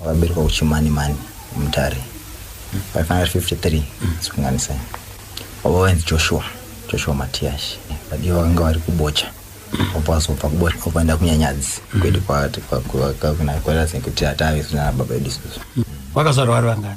Wakaberekwa kuChimanimani, Mutare, 553 sikunganisai. Baba vainzi Joshua, Joshua Matiyashi. Vadiwa vakanga vari kuBocha. Obva wazobva kuBocha ukaenda kuNyanyadzi kwedu kwaati kwakuti atave zvinana baba vedu isusu. Vakazvarwa vari vangani?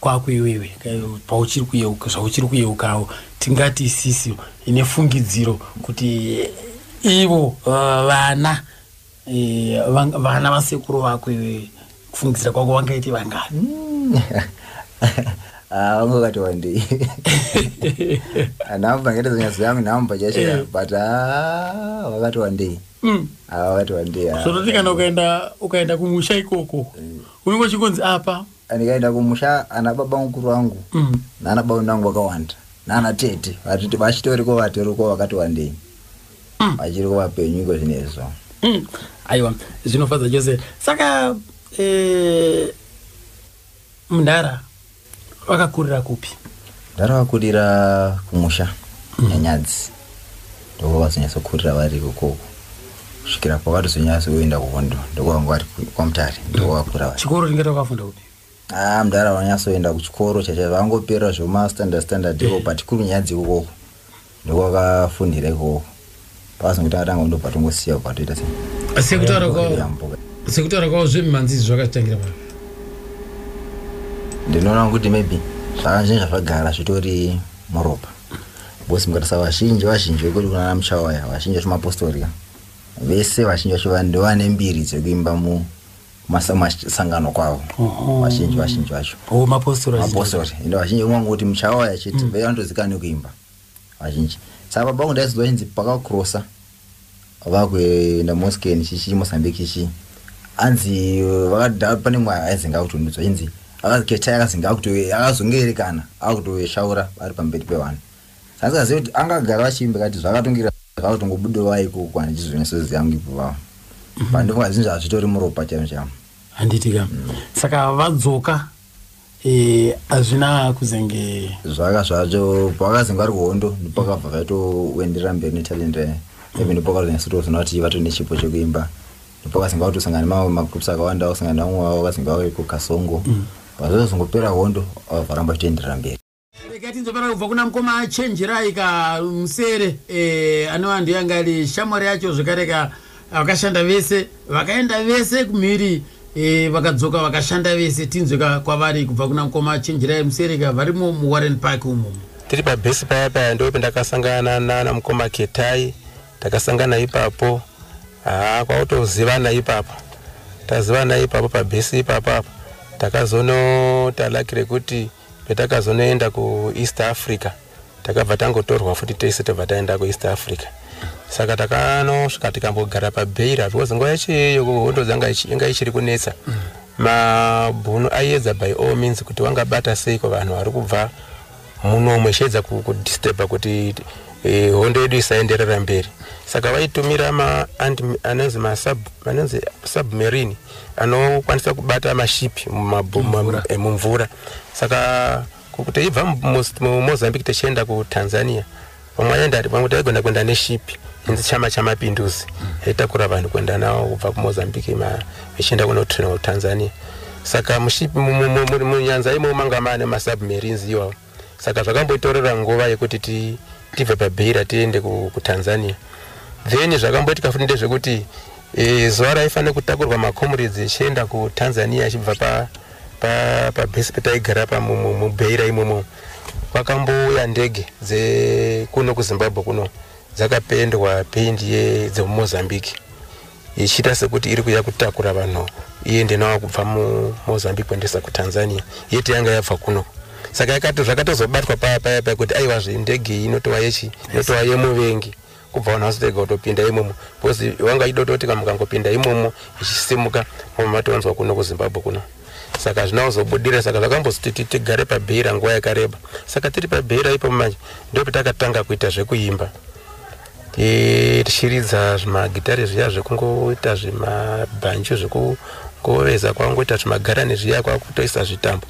kwako iwewe pauchiri kuyeuka zvauchiri kuyeukawo tingati isisi ine fungidziro kuti ivo uh, vana eh, vana vasekuru vako iwewe kufungidzira kwako vangaiti vangani hmm. ah, vamwe vakati wandei nhamba ngete zonyazo yangu nhamba chacho eh. but ah, vakati wandei hmm. ah, vakati wandei zvototi kana ukaenda kumusha ikoko eh. unenge uchikonzi apa ndikaenda kumusha ana baba mukuru wangu mm. nana baba nangu vakawanda nana tete vachitoriko vatoriko vakati wandei mm. vachiriko vapenyu iko zvinezvo mm. aiwa zvinofadza chose saka eh, mndara vakakurira kupi Ndakavakurira kumusha nyanyadzi ndokwavazonyatsokurira vari ikoko kusvikira pavatozonyatsoenda kuhondo ndokwavanga vari kwamutare ndokwavakura vari chikoro ringaita kwavafunda kupi ah mudhara vanyatsoenda kuchikoro chaicho vangoperera zvemastandard standard iko but kuri nyanyadzi ikokoko ndokwakafundira ikoko pakazongoti atanga kundobva tongosiya kubva toita se sekutaura kwavo yambuka sekutaura kwavo zvemimhanzi izvi zvakatangira pano ndinoona kuti maybe zvakanzvinhu zvazvagara zvitori muropa bcoz mukatarisa vazhinji vazhinji vekuti kunana muchawaya vazhinji vacho mapostori ka vese vazhinji vacho va- ndovane mbiri dzekuimba mu masangano kwavo vazhinji vazhinji vacho oh, mapostori ende vazhinji vangoti muchawaya chete mm. vaiva ndozikaa nekuimba vazhinji saka baba vangu ndaizodzwa vachinzi pakakrosa vakuenda moskeni chichii mosambiki chichii anzi vakada pane mwa aizenga akutondudzwa chinzi akazi ketai akazenga akazongeerekana akutoeshaura vari pamberi pevanhu Asingazive kuti anga agara vachiimba kati zvakatongira zvavo tongobudowa ikoko kwani chizvino sozi yangu ipo vavo. Mhm. Pandofunga zvinhu zvazvitori muropa chamu chamu. Handiti ka. Mm. Saka vadzoka eh azvina kuzenge zvaka zvacho pakazenge ari kuhondo ndipakabva vaito wendera mberi ne talent re. Even ndipakazenge sito zona kuti vato nechipo chekuimba. Ndipakazenge vato sangana mamwe magroups akawanda osangana namwe wavo vakazenge vawe ku Kasongo. Mm. Pazozongopera hondo varamba kutoenderera mberi. regai tinzofana kubva kuna mukoma achenjerai ka musere e, anova ndiyo yanga iri shamwari yacho zvekare ka vakashanda vese vakaenda vese kumhiri e, vakadzoka vakashanda vese tinzwe ka kwavari kubva kuna mukoma achenjerai musere ka varimo muwarren park umo tiri pabhesi paya paya ndo pendakasangana nana mukoma ketai takasangana ipapo haa kwautozivana ipapo tazivana ipapo pabhesi ipapo apa takazonotalaki rekuti Petakazonoenda kuEast Africa takabva tangotorwa futi tese tobva taenda kuEast Africa saka takanosvika tikambogara pabeira because nguva yacho iyoyo hondo dzanga inga ichiri kunetsa mm. mabhunu aiedza by all means kuti wangabata seiko vanhu vari kubva muno umwe chiedza kudisturba kuti eh, hondo yedu isaenderera mberi saka vaitumira anonzi submarine anokwanisa kubata maship mumvura eh, saka teibva mumozambique techienda kutanzania vamwe vamwe taigona kuenda neship inzi chama chamapinduzi yaitakura mm. vanhu kuenda navo kubva kumozambique vachienda kunotrina kutanzania saka munyanza imo manga maane masubmarines iwawo saka zvakamboitorera nguva yekuti tibve pabeira tiende kutanzania then zvakamboitika futi ndezvekuti e, zuva raifanira kutakurwa macomrades echienda kutanzania achibva pabase pa, pa pataigara pamubeira imomo kwakambouya ndege dzekuno kuzimbabwe kuno dzakapendwa pendi dzemumozambique ichiita sekuti iri kuya kutakura vanhu iende nawo kubva mumozambique kuendesa kutanzania yeti yanga yabva kuno saka yakato zvakatozobatwa paya paya paya kuti aiwa zve ndege iyi inotova yechi inotova yemuvengi kubva vanhu vazotega kutopinda imomo because wanga ido toti ka mukangopinda imomo ichisimuka momo matowanzwa kuno kuzimbabwe kuno saka hazvina kuzobudira saka zvakambozotiti tigare pabheira nguva yakareba saka tiri pabheira ipo manje ndopetakatanga kuita zvekuimba tichiridza zvimagitare zviya zvekungoita zvimabhanju zvekungoveza kwangoita zvimagarani zviya kwakutoisa zvitambo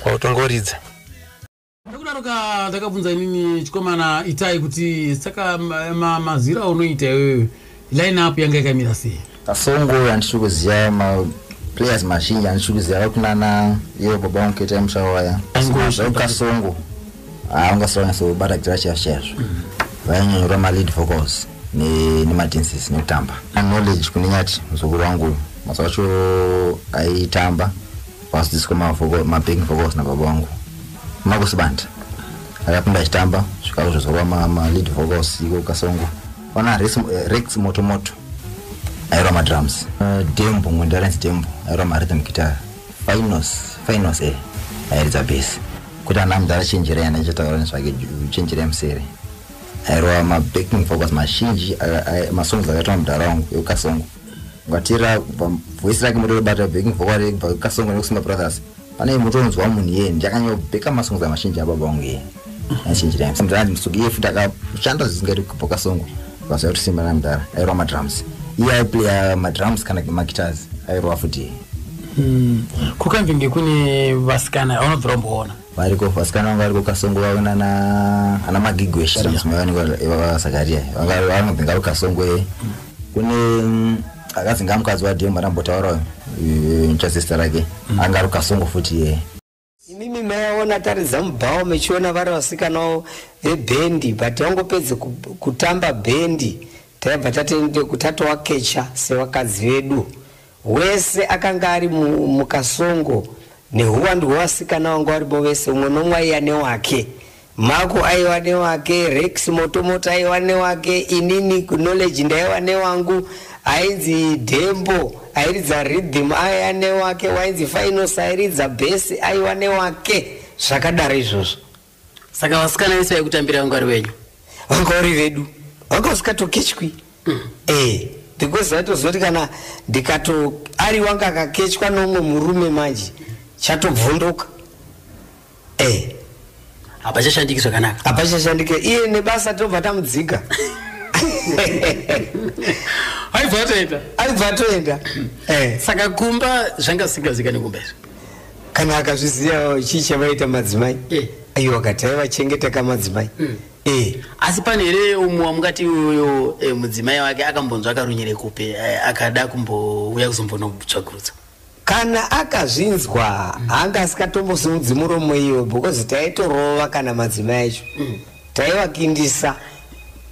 kwakutongoridza nekudaroka ndakabvunza inini chikomana itai kuti saka mazira unoita iwewe line up yanga yakamira sei Kasongo andisiri kuziva maplayers mazhinji andisiri kuziva vari kunana ivo baba wangu keta mushawa waya kasongo haungasavanyasobata ah, kuitira chaizvo chaizvo mm. vainyanyora malead vocals nemadances nekutamba knowledge kune nyati muzukuru wangu mazuva acho aitamba vadzidziswa mabacking vocals nababa wangu makusibanda akapinda achitamba zvikazvo zvozowa malead vocals iko kasongo Ona Rex, eh, Rex Moto Moto airwa madrums. Uh, Dembo Ngwendarens Dembo airwa marhythm guitar. Finos Finos eh airidza bass. Kuti ana mudhara chenjerai ana ichataura nezvake chenjerai musere. Airwa mabacking vocals mazhinji masongs akaitwa mudhara wangu ekukasongo. ngatira kubva voice rake motobata backing vocal rake kubva kasongo nekusima brothers pane mutonzwa munhu iye ndakanyobeka masongs amazhinji ababa wangu iye azhinji time simudhara ndimusuki iye futi akashanda zvisingaiti kubva kasongo vaziva kuti simba namudhara airova madrums iye aiplaya madrums kana magitars airova futi iye Hmm. kukanvinge kune vasikana aunobvira umboona variko vasikana vanga variko kasongo vave nana ana magigwe shirasmavaniwasakaria vanga vanobvinga ro kasongo e kune mm, akazinga mukadzi wadhemba ndambotaurayo nchasista rake mm. anga ro kasongo futi ye imimi maiona taridza mubhawo mechiona vari vasikanawo vebhendi but vangopedze kutamba bhendi Taibva tatoendeku tatowakecha sevakadzi vedu. Wese akanga ari mu, mukasongo nehuwandu hwevasikana vanga varipo vese, umwe nomwe aiya newake. Mako aiwa newake, Rex Motomoto aiwa newake, inini Knowledge ndaiwa newangu, ainzi Dembo airidza rhythm aiya newake, wainzi Finals airidza bhesi aiwa newake, zvakadaro izvozvo. saka vasikana vese vaikutambira vangwari venyu vangwari vedu vanga vasikatokechwi mm. eh, because aitozoti kana ndikato ari wanga akakechwa nomwe murume manje chatobvunduka eh. hapachashandiki zvakanaka hapachashandiki iye nebasa tobva tamudzika aibva atoenda aibva atoenda eh. saka kumba zvanga zisingazikani kumba izvi kana akazviziva chii chavaita madzimai eh. aiwa akati aivachengeta kamadzimai mm. Eh. asi pane here umwe wamukati iyoyo eh, mudzimai wake akambonzwa akarunyere kupi eh, akada kumbouya kuzombonotsvakurudza kana akazvinzwa hanga mm. asikatombosumudzi muromo iyo because taitorova kana madzimai acho mm. taivakindisa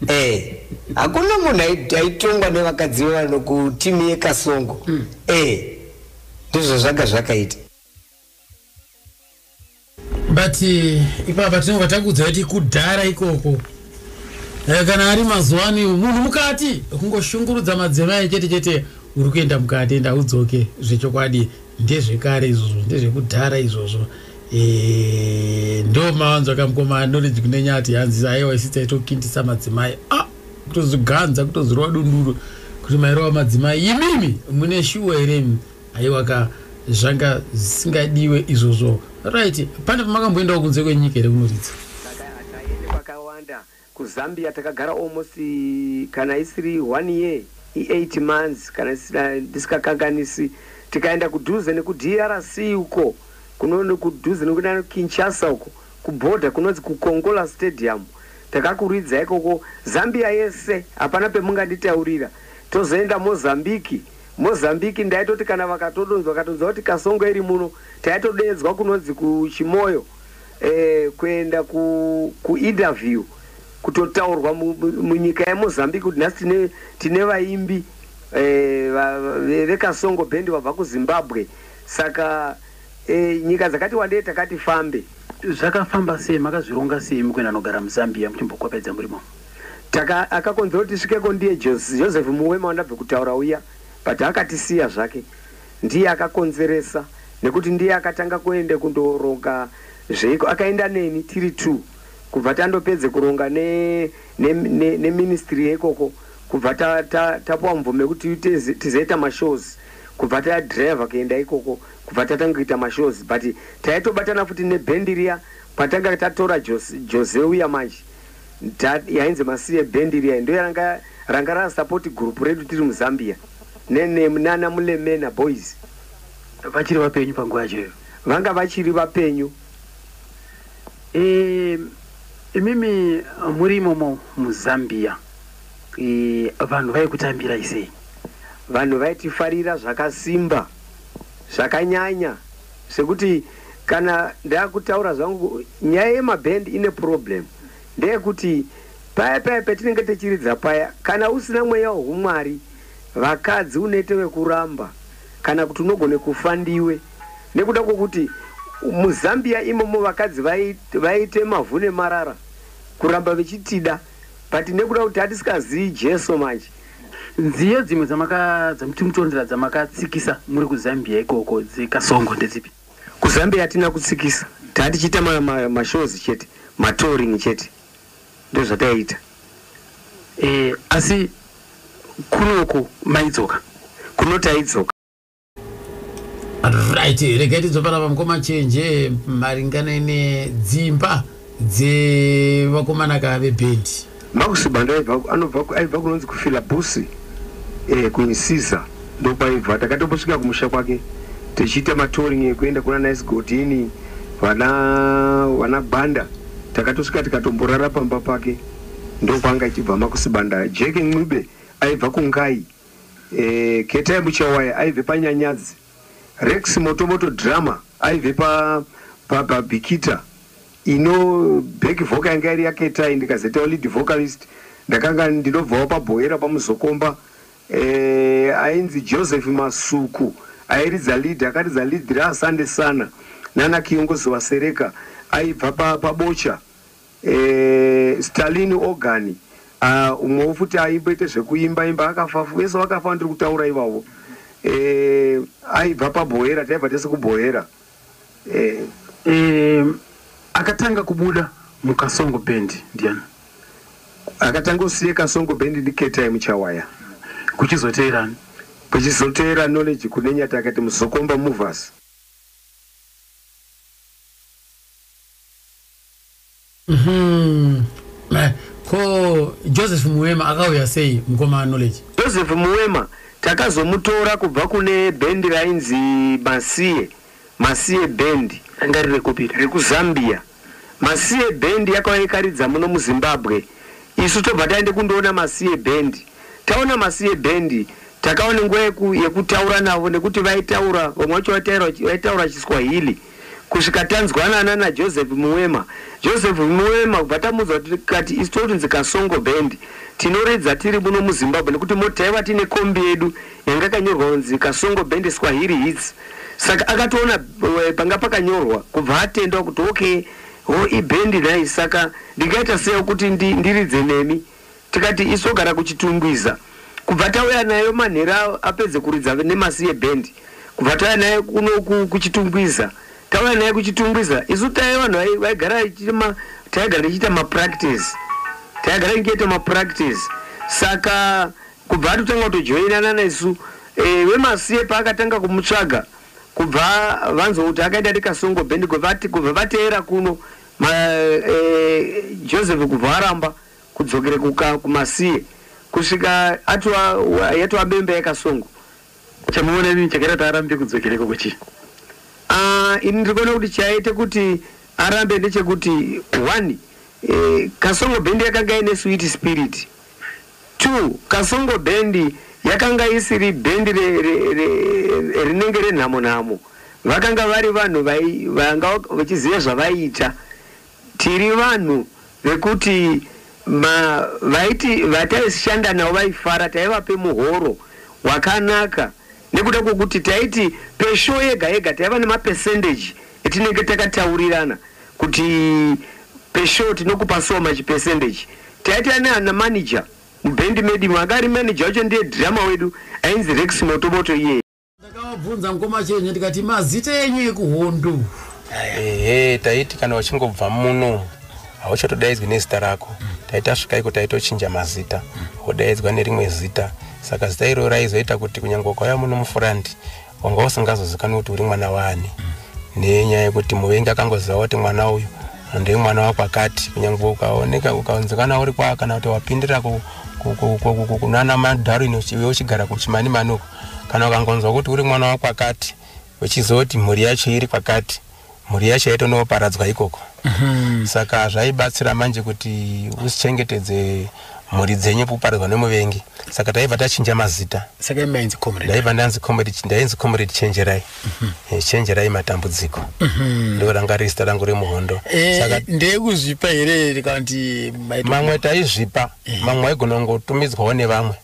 eh hakuna munhu aitongwa nevakadzi vevano kutimi yekasongo mm. eh ndizvo zvanga zvakaita but eh, ipapa tinobva takuudza kuti kudhara ikoko eh, kana ari mazuva ano iwo munhu mukati kungoshungurudza madzimai chete chete uri kuenda mukati enda udzoke zvechokwadi ndezvekare izvozvo ndezvekudhara izvozvo eh, ndo mawanzo akamukomana noriji kunenyati hanzi aiwa isitsaitokindisa madzimai ah! kutoziganza kutozirwa dunduro kuti mairova madzimai imimi mune shuwa here haiwa ka zvanga zvisingadiwe izvozvo right pane pamakamboendawo kunze kwenyika here kunoridza kwakawanda kuzambia takagara almost kana isiri one year i8 months kana ndisikakanganisi tikaenda kudhuze nekudrc uko kunono kudhuze nekuda kinshasa uko Kuborder kunonzi kuKonkola Stadium takakuridza ikoko Zambia yese hapana pemunganditaurira tozoenda Mozambique Mozambique ndaitoti kana vakatodonzwa katonzwa kuti Kasongo iri muno taitodeedzwa kunonzi kuChimoyo eh, kuenda ku, kuinterview kutotaurwa mu, mu, munyika yeMozambique kuti nhasi tine, tine vaimbi eh, va- ve- vekasongo band vabva kuzimbabwe saka e, nyika dzakati wandei takati fambe. Zvakafamba sei? Makazvironga sei mukuenda anogara muZambia muchimbokwapedza murimo? Taka akakonzera kuti tisvikeko ndiye Joseph Muwema wandabve kutaura uya but akatisiya zvake. Ndiye akakonzeresa nekuti ndiye akatanga kuenda kundoronga zveiko akaenda neni tiri two kubva tandopedze kuronga ne, ne, ne, ne ministry yekoko kubva tapuwa ta, ta mvume kuti tizoita mashows kubva tadriver kuenda ikoko kubva tatanga kuita mashows but taitobatana futi neband riya patanga tatora Jose, Jose uya manje yainzi masiye band riya ndo yaranga ranga rasapoti gurupu redu tiri muzambia nana mulemena boys vachiri vapenyu panguva yacho iyo vanga vachiri vapenyu e, imimi muri imomo muzambia e, vanhu vaikutambirai sei vanhu vaitifarira zvakasimba zvakanyanya zvekuti kana ndakutaura zvangu nyaya yemabhand ine problem ndeyekuti paya paya petinenge techiridza paya kana usina mweya wehumwari vakadzi unoite vekuramba kana kuti unogone kufa ndiwe nekuda kwokuti muzambia imomo vakadzi vaite mavhu nemarara kuramba vechitida but nekuda kuti hatisikazii jesu manje nziyo dzimwe dzamakamutorondera dzamakatsikisa muri kuzambia ikoko dzekasongo ndedzipi kuzambia hatina kutsikisa taa tichiita mashows ma, ma chete matoring chete ndozvataiita e, eh, asi kunoko maidzoka kunotaizoka right regai tidzopara pamukoma chenje maringana nedzimba dzevakomana ka vebhendi makusibanda aibva kunonzi kufila busi eh, kuinisiza ndokwaibva takatombosvika kumusha kwake tichiita matoring ekuenda kuna nice godini vana vana gwanda takatosvika tikatomborara pamba pake ndokwaanga ichibva makusibanda jeke ncube aibva kungai Eh, Ketai Muchawaye aive pa Nyanyadzi, Rex Motomoto Drummer aive pa pa Babikita. Ino back vocal yanga iri ya Ketai ndikazoitawo lead vocalist. Ndakanga ndinobvawo pa Bhoera pa Muzokomba. Eh, ainzi Joseph Masuku airidza lead, akaridza lead ra Asande Sana nana Kiyongozi Wasereka aibva pa pa Bocha. Eeh Stalin ogani aah umwewo futi aimboita zvekuimba imba akafa vese vakafa vandiri kutaura ivavo eeh aibva paBhoera taibva tese kuBhoera eeh. Eeh akatanga kubuda muKasongo band ndiani? Akatanga kusiya Kasongo band ndi Ketai Muchawaya. Kuchizoteera ani? Kuchizoteera Knowledge Kunenyati akati Muzokomba movers. Mhm. Ma- ko joseph muwema akauya sei mukoma knowledge joseph muwema takazomutora kubva kune bhendi rainzi masiye masiye bhendi ranga riri kupi rekuzambia masiye bhendi yakauya ikaridza muno muzimbabwe isu tobva taende kundoona masiye bhendi taona masiye bhendi takaone nguva yeku, yekutaura navo nekuti vaitaura vamwe vacho vaitaura vaitaura chiswahili kusvika tanzwanana naJoseph Muwema. Joseph Muwema kubva tamuudzwa tikati isu totunzi Kasongo Band tinoridza tiri muno muZimbabwe nekuti moti taiva tine kombi yedu yanga yakanyorwa kunzi Kasongo Band Swahili Hits. Saka akatoona eh, panga pakanyorwa kubva atendwa kuti okay ho ibhendi nhai saka ndingaita sei kuti ndiridze nemi. Tikati isu ogara kuChitungwiza kubva tauya nayo manhera apedze kuridza nemasiye band kubva tauya nayo kuno kuChitungwiza tauya nayo kuChitungwiza isu taive vanhu vaigara chirima taigara tichiita mapractice taigara tichiita mapractice saka kubva atotanga kutojoinana nesu e, wemasiye paakatanga kumutsvaga kubva vanzwa kuti akaita rikasongo band kubva vateera kuno ma, e, joseph kubva aramba kudzokere kuka kumasiye kusvika atwa yatwa bembe yakasongo chamuona ini chakaita kuti arambe kudzokereko kuchii ah ini ndikuona kuti chaite kuti arambe ndechekuti one eh, kasongo bendi yakanga ine sweet spirit two kasongo bendi yakanga isiri bhendi rinenge renhamo nhamo vakanga vari vanhu vanga vachiziva zvavaiita Tiri vanhu vekuti ma vaiti vataishanda navo vaifara taivape muhoro wakanaka nekuda kwekuti taiti peshow yega yega taiva nema percentage etinenge takataurirana kuti peshow tinokupa so much percentage. Taita nana manager muband medu imo, akari manager wacho ndiye drummer wedu ainzi Rex Motomoto iyeye. Ndakavabvunza mukoma Chenye ndikati mazita enyu ekuhondo. Ehe taiti kana uchingobva muno hauchatodaidzwi nezita rako. Taiti asvika iko taitochinja mazita wodaidzwa nerimwe zita. Saka zita iro raizoita kuti kunyangwe ukauya muno mufuranti wanga usingazozikanwi kuti uri mwana waani. Nenyaya yekuti muvengi akangoziva kuti mwana uyu ndiye mwana wakwakati kunyangwe ukaoneka ukaonzekana uri kwa kana kuti wapindira ku- ku- ku- ku- ku- kunana madarwin uchi- uchigara kuchimanimani uko kana ukangonzwa kuti uri mwana wakwakati uchizoti mhuri yacho iri kwakati mhuri yacho yaitonoparadzwa ikoko mhm. saka zvaibatsira manje kuti usichengetedze mhuri dzenyu kuparadzwa nemuvengi saka taibva tachinja mazita ndaiva ndanzi ndainzi comrade chenjerai mhm. eh, chenjerai matambudziko mhm. ndo ranga riri zita rangu remuhondo eh, ndeyekuzvipa here mamwe taizvipa eh. mamwe aigona kungotumidzwawo nevamwe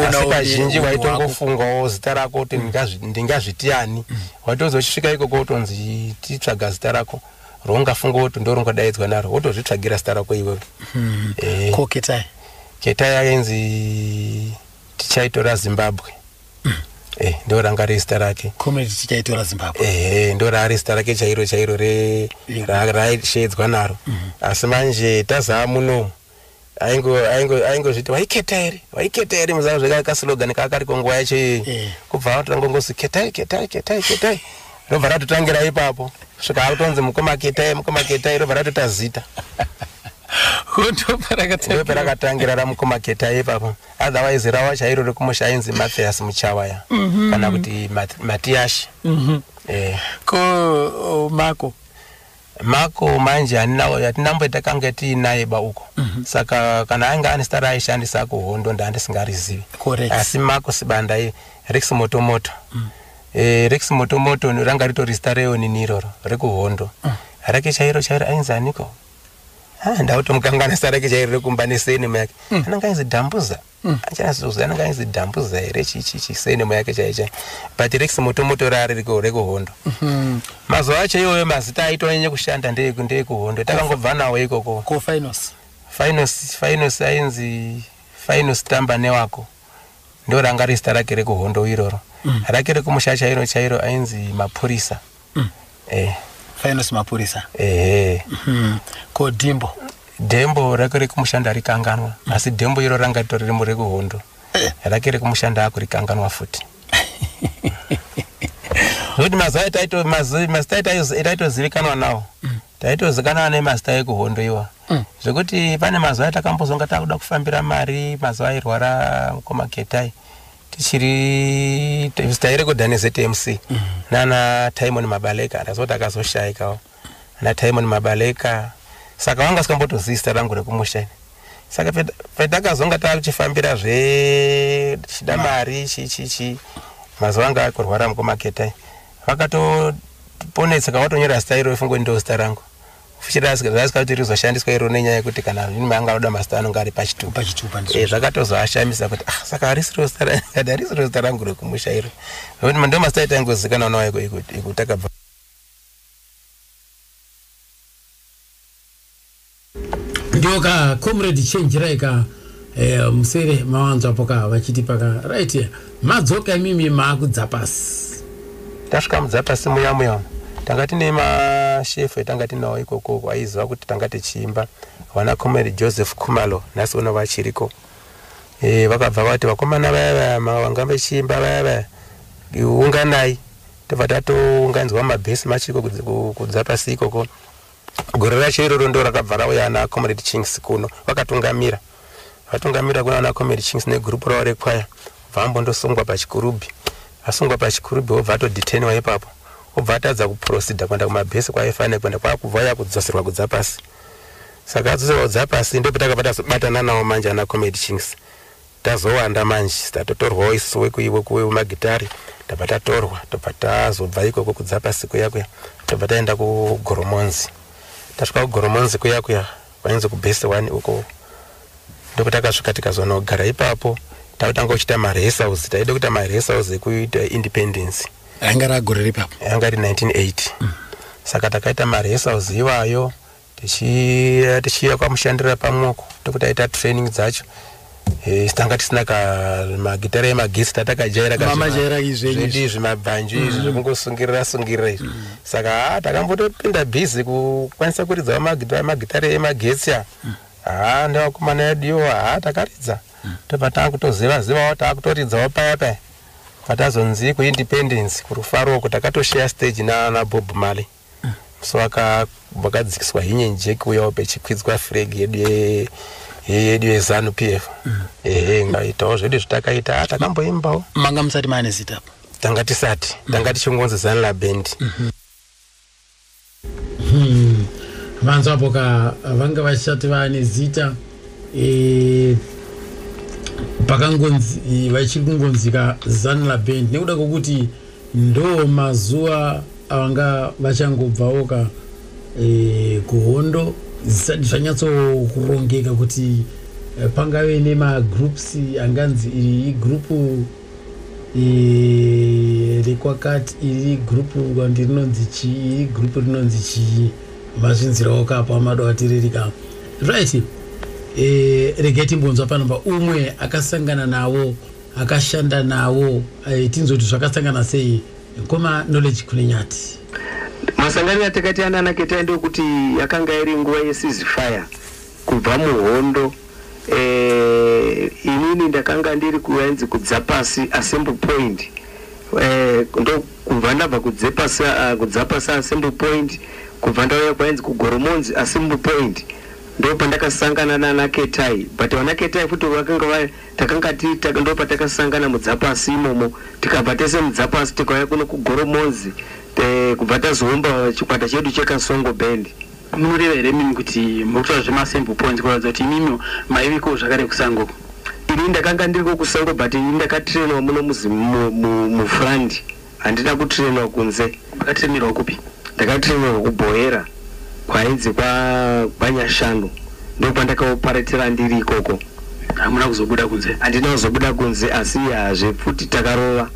asi kazhinji waitongofungawo zita rako kuti mm. ndingazviti ani mm. waitozosvika ikoko utonzi titsvaga zita rako roungafunga kuti ndorongodaidzwa naro wotozvitsvagira zita rako iwewe hmm. eh. ko ketai ketai ainzi tichaitora zimbabwe hmm. eh, ndo ranga riri zita rake eh, ndo raari zita rake chairo chairo raishedzwa naro hmm. asi manje tazaa muno aingozviti vaiketa here vaiketa here muzana zveka kasilogani kaakariko nguva yacho iyoyi eh. kubva atotanga kungozi ketai ketai ketai ketai robva ratotangira ipapo svika akutonzi mukoma ketai mukoma ketai robva ratota zita ndoperakatangira ramukoma ketai ipapo otherwise rawa chairo rekumusha ainzi mathias muchawaya mhm. kana kuti matiashi mhm. eh. ko mako Marco manje hatina mbo takange tiinaye ba uko mm -hmm. saka kana ainge ane star aishandisa kuhondo ndandisingarizivi asi Marco Sibanda iye Rex Motomoto mm -hmm. Eh, rex motomoto ranga ritori zita reonini iroro rekuhondo mm. rake chairo chairo ainzi aniko ah, ndautomukanganisa rake chairo rekumba nesenema yake mm. ananga ainzi dambuza Hmm. achazozi anenge ainzi dambuza here chichichi senemo yake chaicha but rex motomoto raari rekuhondo hmm. mazuva acho iwoyo mazita aitonyanye kushanda ndeekuhondo takangobva nawo ikoko ko finos finos finos ainzi finos tamba newako ndo ranga rezita rake rekuhondo iroro hmm. rake rekumusha chairo chairo ainzi mapurisa mm. eh. faino semapurisa ehe mm. ko dimbo dembo rake rekumushanda rikanganwa mm. asi dembo iro ranga ritori rimo rekuhondo eh. rake rekumushanda ako rikanganwa futi zvekuti mazuva etaitomazita etaitozivikanwa nawo mm. taitozikanwa nemazita ekuhondo iwa mm. zvekuti pane mazuva atakambozonga takuda kufambira mari mazuva airwara mukoma getai tichiri tairekodha nezetmc mm. nana timon mabaleka ndazoti akazoshaikawo ana timon mabaleka saka wanga sikambotozivi zita rangu rekumusha ini saka patakazonga tachifambira zve tichida mari chichichi mazuva anga akurwara mukomaketai vakatoponetseka watonyora zita iro ifungo ndo zita rangu futi raasika kuti rizoshandiswa iro nenyaya yekuti kana nime anga anoda mazita anonge ari pachitupa eh, zvakatozoashamisa kuti ah, saka harisirozitarisiro zita rangu rekumusha iro nokuti ndo mazita aita angozikanwa nawo ikutakabva ndoka comrade change raika eh, musere mawanzwapo ka vachiti paka right Madzoka imimi maakudza pasi. Tasvika mudzapasi muya muya umu tanga tine mashefu etanga tinawo ikoko aiziva kuti tanga tichiimba vana comrade Joseph Khumalo nhasi uno vachiriko e, vakabva vati vakomana vaya vaya vanga vachiimba vaya vaya unganai tobva tatounganidzwa mabhesi machiko kudzapasi ikoko Gore racho iroro ndo rakabva rauya ana Comrade Chinks kuno vakatungamira vatungamira kuna ana Comrade Chinks negurupu ravo rekwaya bvambo ndosungwa pachikurubhi asungwa pachikurubhi wobva atodeteniwa ipapo obva atadza kuprosida kuenda kumabhesi kwaifanira kuenda kwakubva ya kudzoserwa kudza pasi saka adzoserwa kudza pasi ndipo takabva tazobatana nawo manje ana Comrade Chinks Tazowanda manje tatotorwawo isusu wekuwemagitare tabva tatorwa tobva tazobva ikoko kudzapa siku yakuya tobva taenda kugoromonzi tasvika kugoromonzi kuyakuya kwainzi kubhesi one uko ndokutakasvika tikazonogara ipapo takutanga kuchita maresaus taida kuita maresaus ekuita independence anga ragore ripapo anga ri 1980 mm. saka takaita maresaus iwayo tichiya tichiya kwamushandira pamwoko tokuti aita training dzacho eh, tanga tisina ka magitare emagesi tatakajaira kamajaira izvezvi izvi mabhanji izvi mm. zvekungosungirira sungirira izvi mm. saka ha takambotopinda busy kukwanisa kuridza magitare emagetsi a mm. ha nevakomana yeduyo ha takaridza tobva taakutoziva zivawo taakutoridzawo paya paya patazonzi kuindependence kurufaro uko takatosheya stage nanabob mali so vakadzikiswa hinye njeki uyawo pechikwidzwa freg yedu yedu yezanu p f mm. ehe ngaitawo zvedu zvatakaita ah, takamboimbawo manga musati maane zita apo tanga tisati mm. tanga tichingonzi zanu labend mm-hmm. hmm. vanzwa apo ka vanga vasati vaane zita e, pakangonzi vachiri kungonzika zanu labend nekuda kwokuti Ndoo mazuva avanga vachangobvawo ka e, kuhondo zvisati zvanyatsokurongeka kuti e, pangave nemagroups anganzi iri igrupu e, rekwakati iri grupu kwandi rinonzi chii iri grupu rinonzi chii mazvinzirawo kapo amado atiririka right e, regai timbonzwa pano pa umwe akasangana navo akashanda nawo eh, tinzoti zvakasangana sei mkoma knowledge kunenyati masangano yatakati anana ketai ndokuti yakanga iri nguva yesizifire kubva muhondo eh, inini ndakanga ndiri kuenzi kudza pasi assembly point eh, ndokubva ndabva kudza pasi ah, kudza pasi assembly point kubva ndauya kwaenzi kugoromonzi assembly point ndopandakasangana nana ketai but vana ketai futi vakanga va Takanga tiitaka ndopatakasangana mudzapasi imomo tikabva tese mudzapasi tikauya kuno kugoromonzi eh, kubva tazoumba chikwata chedu chekasongo band munoreva here mimi kuti mukutora zvemasample points kuratidza kuti imimiwo maiviko zvakare kusango ini ndakanga ndiriko kusango but ini ndakatrainwa muno mufrandi Handina kutrainwa kunze. Makatrainerwa kupi? Ndakatrainerwa kuBhoera kwainzi kwa kwaNyashanu ndokwandakaoparetera ndiri ikoko. Hamuna kuzobuda kunze? Handina kuzobuda kunze asi hazvepfuti takarova.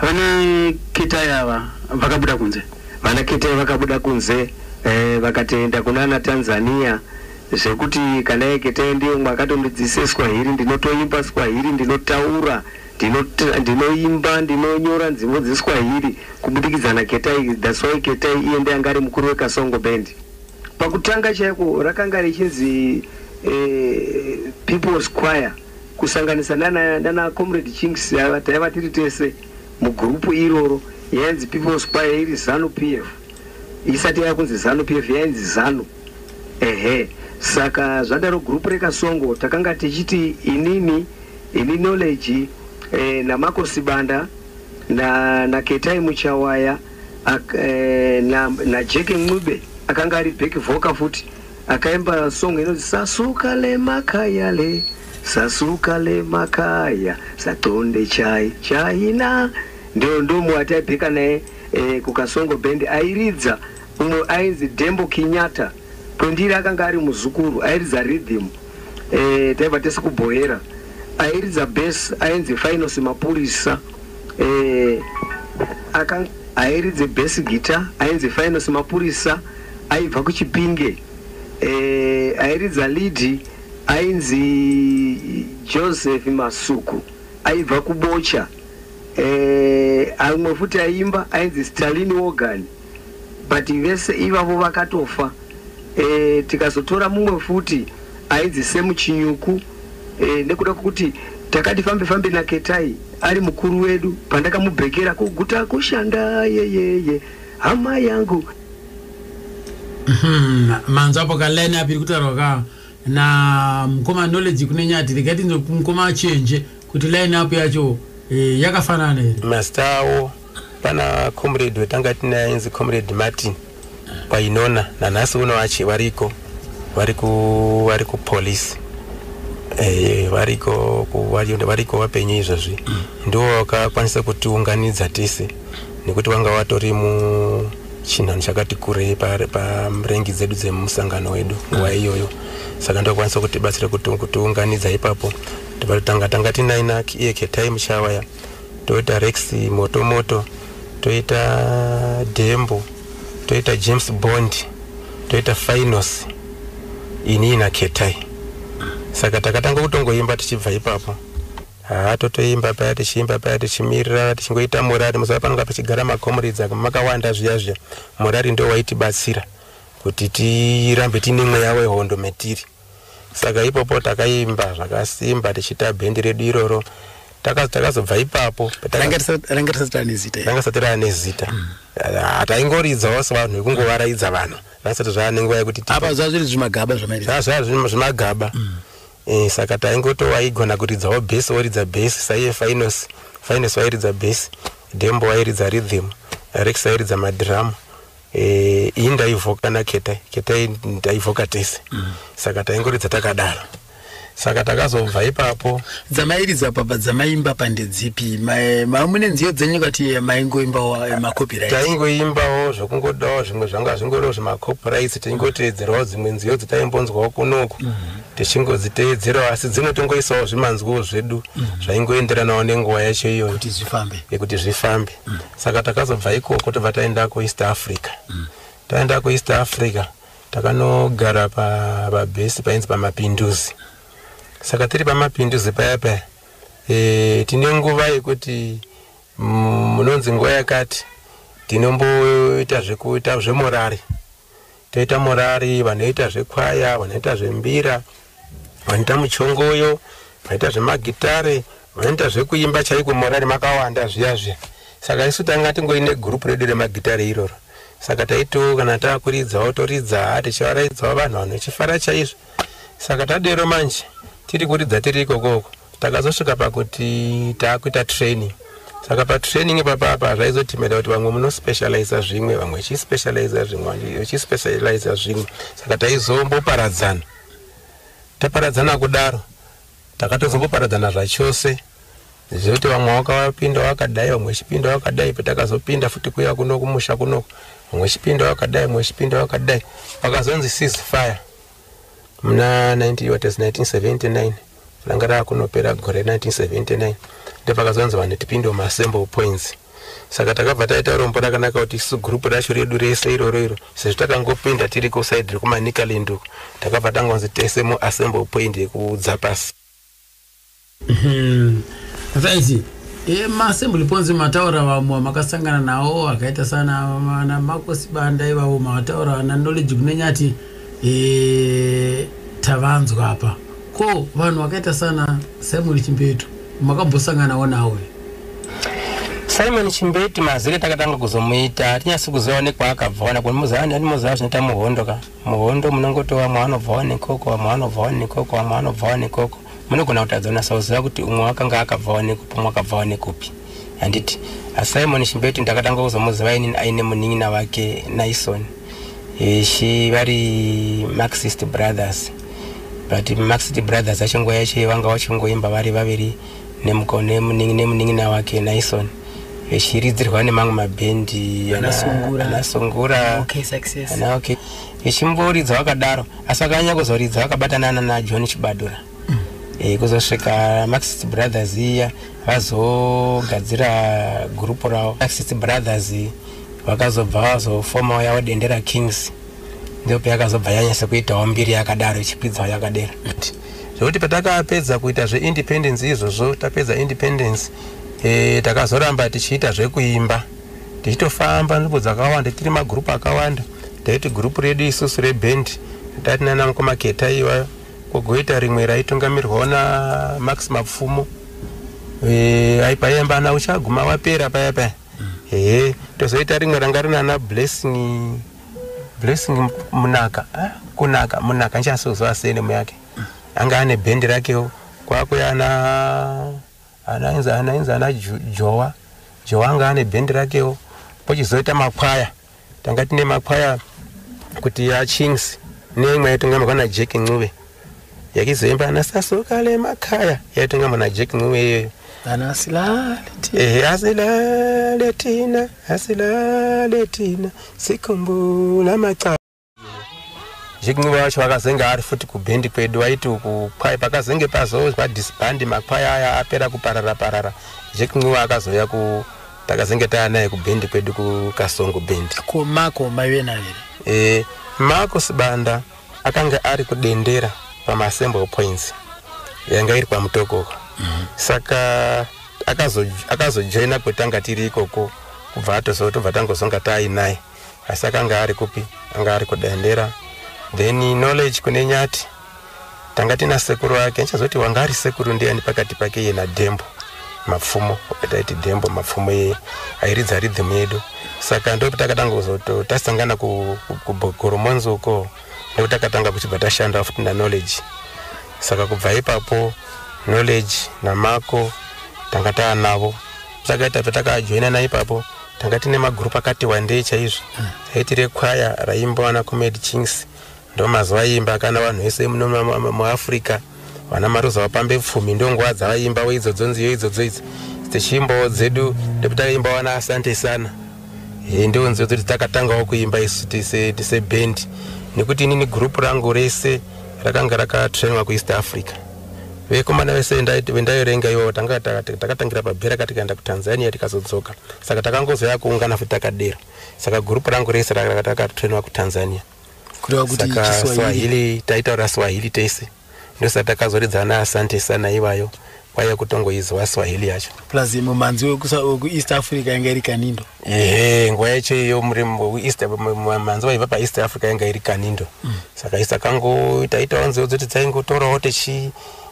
Vana Ketai ava vakabuda kunze? Vana Ketai vakabuda kunze eh, vakatoenda kunana Tanzania zvekuti kana iye Ketai ndiye umwe akatondidzise Swahili ndinotoimba Swahili ndinotaura Ndinot- ndinoimba ndinonyora nzimu dzeswahili kubudikidza naketai thats why ketai iye ndiye anga ari mukuru wekasongo band pakutanga chaiko rakanga richinzi eh, peoples choir kusanganisa nana, nana comrade chinks ava taiva tiri tese mugurupu iroro yainzi peoples choir iri zanu p f isati yava kunzi zanu p f yainzi zanu ehe saka zvadaro gurupu rekasongo takanga tichiti inini Ini knowledge eh, naMarco Sibanda na, na Ketai Muchawaya ak, eh, na, na Jack Ncube akanga ari back vocal futi akaimba song inonzi sasuka lemakaya le sasuka lemakaya satonde chai chaina ndio ndo muwataibheka naye eh, kukasongo band airidza umwe ainzi Dembo Kinyata kwendiri akanga ari muzukuru airidza rhythm eh, taiva tese kubhoera airidza bes ainzi fainosi mapurisa eh, aka airidze bes gita ainzi fainosi mapurisa aibva kuchipinge eh, airidza lidi ainzi joseph masuku aibva kubocha eh, amwe futi aimba ainzi stalin wogan but vese ivavo vakatofa eh, tikazotora mumwe futi ainzi semu chinyuku eh, nekuda kwekuti takati fambe fambe naketai ari mukuru wedu pandakamubhekera kuguta kushanda yeyeye hama yangu Hmm, manzwa apo ka line api iri kutaurwa ka na mukoma knowledge kune nyati regai tinzwe mukoma achenje kuti line up yacho eh, yakafanana here masitawo Pana comrade wetanga tinaye ainzi comrade Martin kwainona nanhasi uno vachi variko vari ku vari ku police eh variko ku vari- variko vapenyu izvozvi ndiwo vakakwanisa kutiunganidza tese nekuti vanga vatori mu chinhanho chakati kurei pa- pamrengi dzedu dzemusangano wedu nguva iyoyo saka ndokwanisa kutibatsira kuti- kutiunganidza ipapo tivatanga tanga tinaina iye ketai muchawaya toita rex motomoto toita dembo toita james bond toita finos inii naketai saka takatanga kutongoimba tichibva ipapo haa totoimba paya tichiimba paya tichimirira tichingoita morari muziva panonga pachigara macomuridzi aka makawanda zviya zviya morari ndo waitibatsira kuti tirambe tiine mweya wehondo metiri saka ipopo takaimba zvakasimba tichiita bhendi redu iroro takazobva ipapo ranga risati rane zita ranga risati rane zita mm. ah, taingoridzawo sevanhu vekungovaraidza vanhu ranga risati zvaane nguva yekuti apa zvaa zviri zvimagaba zvamaiaa zvaa zvimagaba mm. eh, saka taingotowaigona kuridzawo bhesi woridza bhesi saiye finos finos wairidza bhesi dembo wairidza ridhim rex airidza madhiramu Eh, iyi ndaivoka naketai ketai ndaivoka tese mm. saka taingoridza takadaro saka takazobva ipapo dzamairidza papa dzamaimba pandedzipi mamune nziyo dzenyu kati eh, maingoimbawo eh, macopyright taingoimbawo zvokungodawo zvimwe zvanga zvingoriwo zvemacopyrights taingoteedzerawo dzimwe nziyo dzataimbonzwawo kunoku mm -hmm. tichingodziteedzerawo asi dzimwe tongoisawo zvimanzwiwo zvedu mm -hmm. zvaingoenderanawo nenguva yacho iyoyo kuti zvifambe yekuti zvifambe mm. saka takazobva ikoko tobva taenda kueast africa mm. taenda kueast africa takanogara pabhesi painzi pamapinduzi saka tiri pamapinduzi paya paya e, tine nguva yekuti munonzi nguva yakati tinomboita zvekuita zvemorari toita murari, vanoita zvekwaya, vanoita zvembira, vanoita muchongoyo, vanoita zvemagitare, vanoita zvekuimba chaiko murari makawanda zviya zviya. Saka isu tanga tingoine group redu remagitare iroro. Saka taito kana takuridzawo toridza tichivaraidzawo vanhu vanhu vachifara chaizvo. Saka tadero manje tiri kuridza tiri ikoko uko. takazosvika pakuti taakuita training saka patraining papapa zvaizotimeda kuti vamwe munospecializa zvimwe vamwe chispecializa zvimwe vachispecializa zvimwe saka taizomboparadzana taparadzana kudaro takatozomboparadzana zvachose zvekuti vamwe wakapinda wakadai vamwe chipinda wakadai patakazopinda futi kuya kuno kumusha kunoko vamwe chipinda wakadai vamwe chipinda wakadai pakazonzi cease fire muna 1979 ranga rava kunopera gore 1979 ndepakazonzi vanhu tipinde muassemble points saka takabva taita rombo rakanaka kuti isu gurupu racho redu rese iroro iro sezvo takangopinda tiri kusaidi rekumanikalind uko takabva tangonzi tese muassemble point yekudzapasi Umm Mfenzi emasembly ponzi mataura vamwe vamakasangana nawo akaita sana mana makosi banda ivavo mataura na knowledge kunenyati e, tavanzwa apa ko vanhu vakaita sana simon chimbetu makambosanganawo nawo here? simon chimbeti mazere takatanga kuzomuita tinyasi kuziva nekwaakabva wana kumuziva ndani muziva zvinoita muhondo ka muhondo munongoti vamwe vanobvawo nekoko vamwe vanobvawo nekoko vamwe vanobvawo nekoko munogona kutadza unasa kuziva kuti umwe wakanga akabvawo nekupi umwe akabvawo nekupi handiti asimon shimbetu ndakatanga kuzomuziva inini aine munin'ina vake nison ishi vari marxist brothers but marxist brothers acho nguva yacho vanga vachingoimba vari vaviri Nemco nemunin'ina wake Naison vechiridzirwa nemamwe mabhendi anasungura vechimboridza vakadaro asi vakanyanya kuzoridza vakabatana nana john chibadura mm. e, kuzosvika maxist brothers iya vazogadzira gurupu ravo maxist brothers vakazobva vazofomawo yavo dendera kings ndope yakazobva yanyasa kuitawo mbiri yakadaro ichikwidzawo yakadera zvekuti patakapedza kuita zveindependence izvozvo tapedza independence e, takazoramba tichiita zvekuimba tichitofamba nzvimbo dzakawanda tiri magrupu akawanda taiti grupu redu isusu reband tati nana mukoma keta iwayo kugoita rimwe raitungamirwawo namax mapfumo e, aipayemba ana uchaguma wapera paya paya ehe tozoita rimwe ranga rinana blessing Blessing Munaka, ah, kunaka Munaka nchasozwa senemu yake anga ane bhendi rakewo kwakwe ana anainza anainza ana Jowa Jowa anga ane bhendi rakewo pochizoita makwaya tanga tine makwaya kuti ya Chings neimwe yaitongwa na Jack Ncube yakizoimba ana sasuka le makaya yaitonga mwana jack ncuwe iyoyo kana asilaleehe asilale tina asilale tina sikumbula maca jack ncuwe wacho vakazenge ari futi kubhendi kwedu waiti uku kwai pakazenge pazozwa disbandi makwaya aya apera kuparara parara jack ncuwe akazouya ku takazenge taya naye kubhendi kwedu kukasongo bhendi ko mako maive nayo here e, mako sibanda akange ari kudendera pamasembo points yanga iri kwamutokoko mm -hmm. saka akazojoina akazo kwetanga tiri ikoko kubva atozo tobva tangozonga taainaye asi akanga ari kupi anga ari kudendera then knowledge kune nyati tanga tina sekuru ake ndichazoti wanga ari sekuru ndiyani pakati pake iye nadembo mapfumo ataiti dembo mapfumo iye airidza rhythm yedu saka ndokuti takatanga kuzoto tasangana kugoromonzi ku, uko ndokuti takatanga kuchibva tashanda futi naknowledge saka kubva ipapo knowledge namako tanga taanavo takaitabva takajoinana ipapo tanga tine magroup akati wandei chaizvo hmm. aiti rekwaya raimbowana comed kings Ndomazuva imba kana vanhu vese muno muAfrica vana maruza vapambe pfumi ndonguva dzavaimba weidzodzo nziyo idzodzo idzi dzechimbowo dzedu ndekuti takaimba wana asante sana e, ndiwo nziyo dzoti takatangawo kuimba isu tise tise band nekuti inini gurupu rangu rese rakanga rakatrainwa kueast africa vekomana vese vendaiverenga ivo tanga takatangira pabhera ka tikaenda kutanzania tikazodzoka saka takangozoya kuungana futi takadero saka gurupu rangu rese rakatakatrainwa kutanzania kureva kuti saka chiswahili swahili taitaura swahili tese ndosaka takazoridza na asante sana ivayo kwaiya kutongoizwa swahili yacho plus mumanzi wekusa- wekueast africa yanga iri kanindo ehe nguva yacho iyo muri mu- east m- m- manzi vaiva paeast africa yanga iri kanindo saka isa kangu taitawo nziyo dzoti dzaingotorawo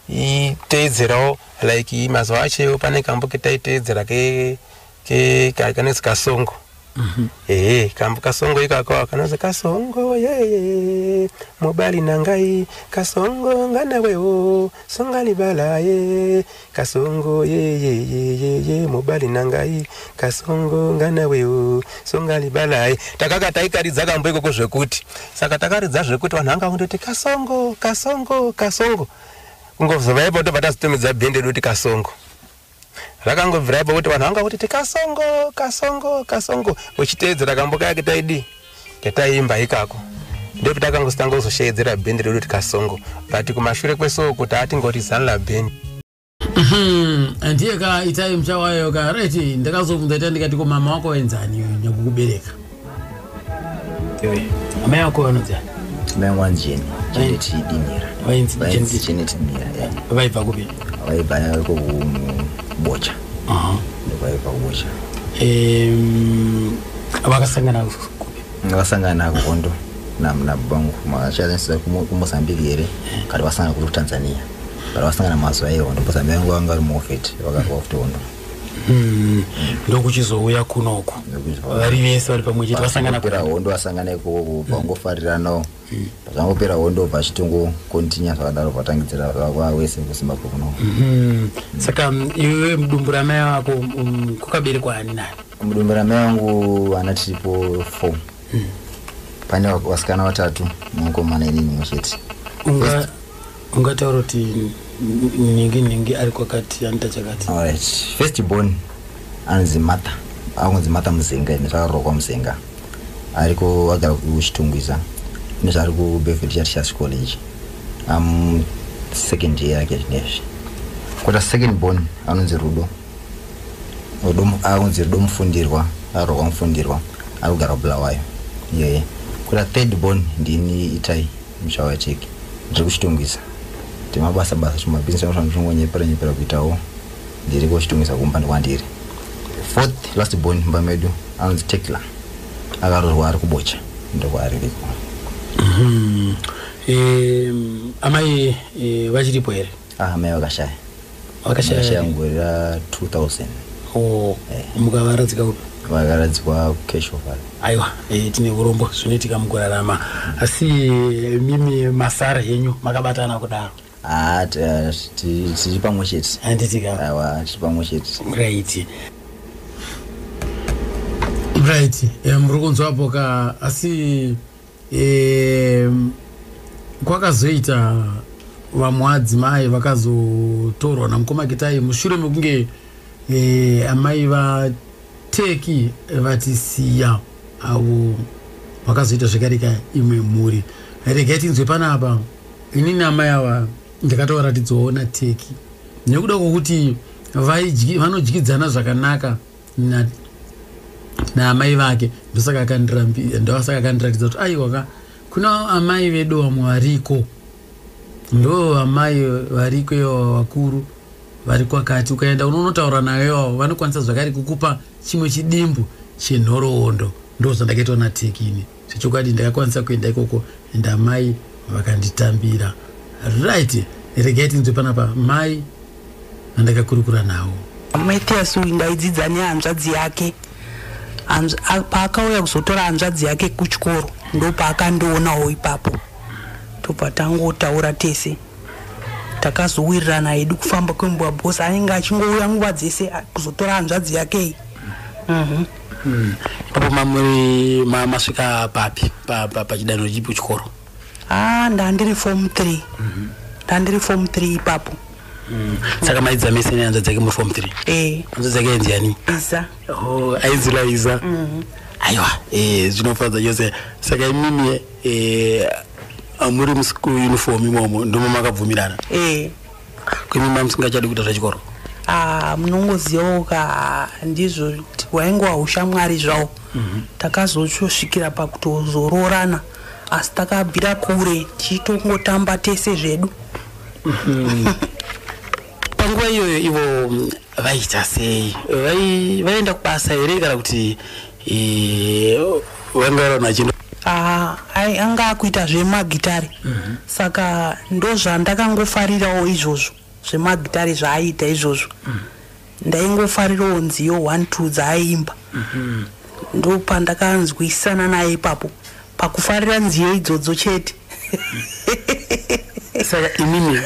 tichiiteedzerawo like mazuva acho iwo pane kambo ketaiteedzera ke ke ka kanonzi kasongo mhm. ehe kambo kasongo ikako kanonzi kasongo ye mobali nangai kasongo nganawewo songalibala ye kasongo yeyeyeye mobali nangai kasongo nganawewo songalibala ye takaka taikaridza kambo ikoko zvekuti saka takaridza zvekuti vanhu vanga kundoti kasongo kasongo kasongo kungozovaipo tobva tazotomidza bhende doti kasongo Rakangobvira ipapo kuti vanhu vanga kuti tikasongo kasongo kasongo uchiteedzera kamboka yake taidi yataiimba ikako ndipo takangositanga kuzosheedzera band redu tikasongo but kumashure kwesoo kuti atingoti zanla band mhm. andiye ka itai mchawayo ka reti ndakazobvunza ita ndikati ko mama wako wenzani nyakukubereka amai ako vanodzaa mai angu vanzi jeni jenet dinira vainzi vainzi jenet dinira ya vaibva kupi vaibva ko kubocha Aha. ndokwaiva kubocha Em, vakasangana kupi vakasangana kuhondo nabangu machashandisa kumozambique here kati vasangana kuri kutanzania kati vasangana mazuva ehondo mozambique vangu vanga vari muofet vakakuva kuti hondo Hmm, ndokuchizouya kunoku vari vese vari pamwe chete vasangana pera hondo vasangana ikoko kubva kungofariranawo hmm. zvangopera hondo bva chitongo kontinya zvakadaro vatangidzira vava wese kuzimbabwe kuno hmm. saka iwe mudumbu ramai vako um, kukaberekwa ani nani mudumbu ramai vangu ana tiripo four pane vasikana vatatu nemukomana inini mwe chete ungataura kuti nhingi nhingi ari kwakati anita chakati alright first born anzi mata akunzi mata muzinga ine zvakarokwa muzinga ariko agara kuchitungwiza ine zvaari kubeverly chatichas college am second year yake zvinezvi kota second born anonzi rudo akunzi rudo mufundirwa arokwa mufundirwa ari kugara bulawayo yeye kota third born ndini itai muchawa cheki ndiri kuchitungisa timabasa basa chimabhizinesi anofana ndichingonyepera nyepera kuitawo ndiri kuchitungisa kumba ndikwandiri fourth last born mumba medu anonzi tekla akarorwa ari kubocha ndokwaari riko mm-hmm. amai eh, vachiripo here Ah, mai vakashaya. Vakashaya Vakashaya vari? mugore ra 2000. Oh, Eh. mukavaradzika kupi? Vakaradzikwa kucash offer. aiwa eh, tine urombo zvinoitika mukurarama asi eh, mimi masara henyu makabatana kudaro Ah, t- ah, ti- tiri pamwe chete. handitika Awa, tiri pamwe chete. right right eh, muri kunzwa apo ka asi um, kwakazoita vamwe vadzimai vakazotorwa namukoma kitai mushure mekunge eh, amai vateki vatisiya avo vakazoita zvekarika imwe mhuri regai tinzwe panapa inini amai ava ndakatovaratidzawo nateki nekuda kwokuti vanodyidzana zvakanaka naamai vake ndosaka akandirambindosaka akandiratidza kuti aiwa ka kuna amai vedu vamwe variko ndo amai variko ivo vakuru vari kwakati ukaenda unonotaura nayo ivavo vanokwanisa zvakare kukupa chimwe chidimbu chenhoroondo ndozvandakaitwa natekini Zvechokwadi ndakakwanisa kuenda ikoko and amai vakanditambira. Right, regai tinzwe panapa mai vandakakurukura nawo. Mathias uyu ndaidzidza nehanzvadzi yake. Paakauya kuzotora hanzvadzi yake kuchikoro ndopaakandionawo ipapo. Tobva tangotaura tese takazowirirana hedu kufamba kwenguva bhosi anenge achingouya nguva dzese kuzotora hanzvadzi yake iyi mm -hmm. Mm. Ipapo mamuri ma, masvika papi pachidanho pa, pa chipi chikoro? Ah, ndandiri form 3. Mm -hmm. Ndandiri form 3 ipapo. Mm. Saka maidza mese ne hanzvadzi yake muri form 3? Eh. Hanzvadzi yake ainzi yani? Iza. Oh, ainzi la Iza. Mm -hmm. Aiwa, eh zvinofadza chose. Saka imimi eh amuri musiku uniform imomo ndomo makabvumirana? Eh. Kwimi mama singachadi kuita zvechikoro. Ah, munongozivawo ka ndizvo wainge wahushamwari zvawo. Mhm. Takazosvikira pakutozoroorana asi takabvira kure tichitongotamba tese zvedu. Mhm. Panguva iyoyo ivo mm, vaiita sei? Vaienda kubasa here kana kuti vangaranachino Ah, ai anga akuita zvemagitare mhm. saka ndozvandakangofarirawo izvozvo zvemagitare zvaaiita izvozvo mhm. ndaingofarirawo nziyo one two dzaaiimba mhm. ndopandakanzwisana naye ipapo pakufarira nziyo idzodzo chete saka imimi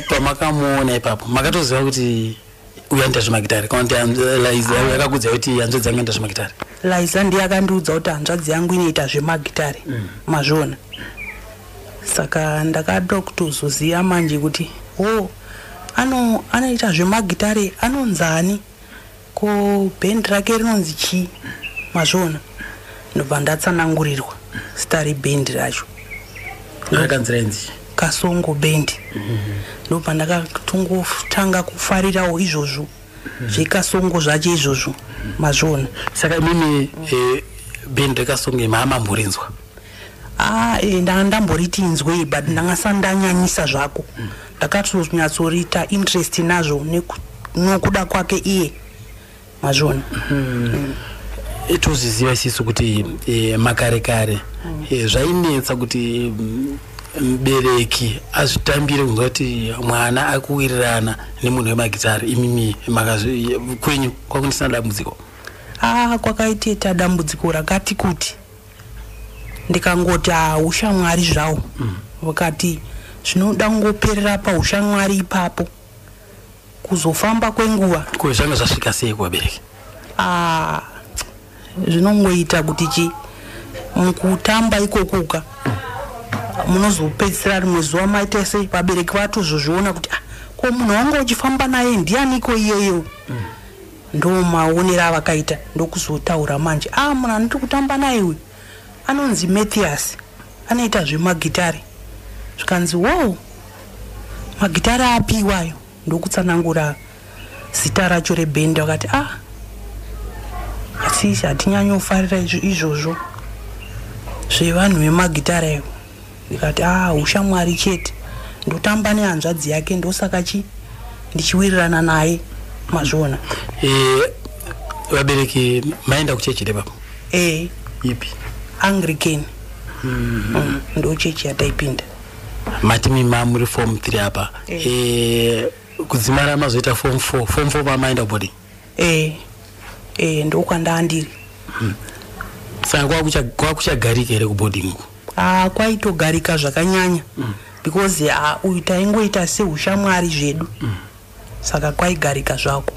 pamakamuona ipapo makatoziva kuti uyaenda zvemagitare kana kuti liza ah. yakakudza kuti hanzvadzi yangu yaenda zvemagitare liza ndiye akandiudza kuti hanzvadzi yangu inoita zvemagitare mm. mazviona saka ndakada kutozoziva manje kuti o ano anoita zvemagitare anonzani ko bhendi rake rinonzi chii mazviona ndobva ndatsanangurirwa sitari bhendi racho rakanzi rainzi kasongo band ndo pandakatongotanga kufarirawo izvozvo zvekasongo zvacho izvozvo mazviona saka imimi eh, band rekasongo imi hamamborinzwa ah, eh, ndanga ndamboriti inzwei but ndanga sandanyanyisa zvako ndakatonyatsorita interest nazvo nokuda kwake iye mazviona mm. Eh, tozviziva isisu kuti e, makare kare mm. e, zvainetsa kuti mm, mbereki azvitambire kunzwa kuti mwana akuwirirana nemunhu wemagitari imimi kwenyu kwakundisina dambudziko ah, kwakaiteta dambudziko rakati kuti ndikangoti haushamwari ah, zvawo mm. vakati zvinoda kungoperera paushamwari ipapo kuzofamba kwenguva ko zvanga zvasvika sei kuvabereki ah, zvinongoita kuti chii mukutamba ikokuka munozopedzisira rimwe zuva maita sei vabereki vatozozviona kuti ah, ko munhu wanga uchifamba naye ndianiko iyeyo mm. ndo maonero avakaita ndokuzotaura manje a ah, munhu anoti kutamba naye uyu anonzi Mathias anoita zvemagitare zvikanzi wow magitare api iwayo ndokutsanangura zita racho rebhendi vakati ah asi hatinyanyofarira izvozvo zvevanhu vemagitare ivo ndikati ah ushamwari chete ndotamba nehanzvadzi yake ndosaka chi ndichiwirirana naye mazviona eh, vabereki maenda kuchechi repapo e ipi anglican mm. mm, ndo chechi yataipinda mati mima muri form three apa e. e, kudzimara mazoita form four form four pamaenda kuboding eh eh ndokwanda andiri hmm. saka kwakucha kwakucha garika here kuboarding uko ah kwaito garika zvakanyanya mm. because ah uyu taingoita se ushamwari zvedu mm. saka kwaigarika zvako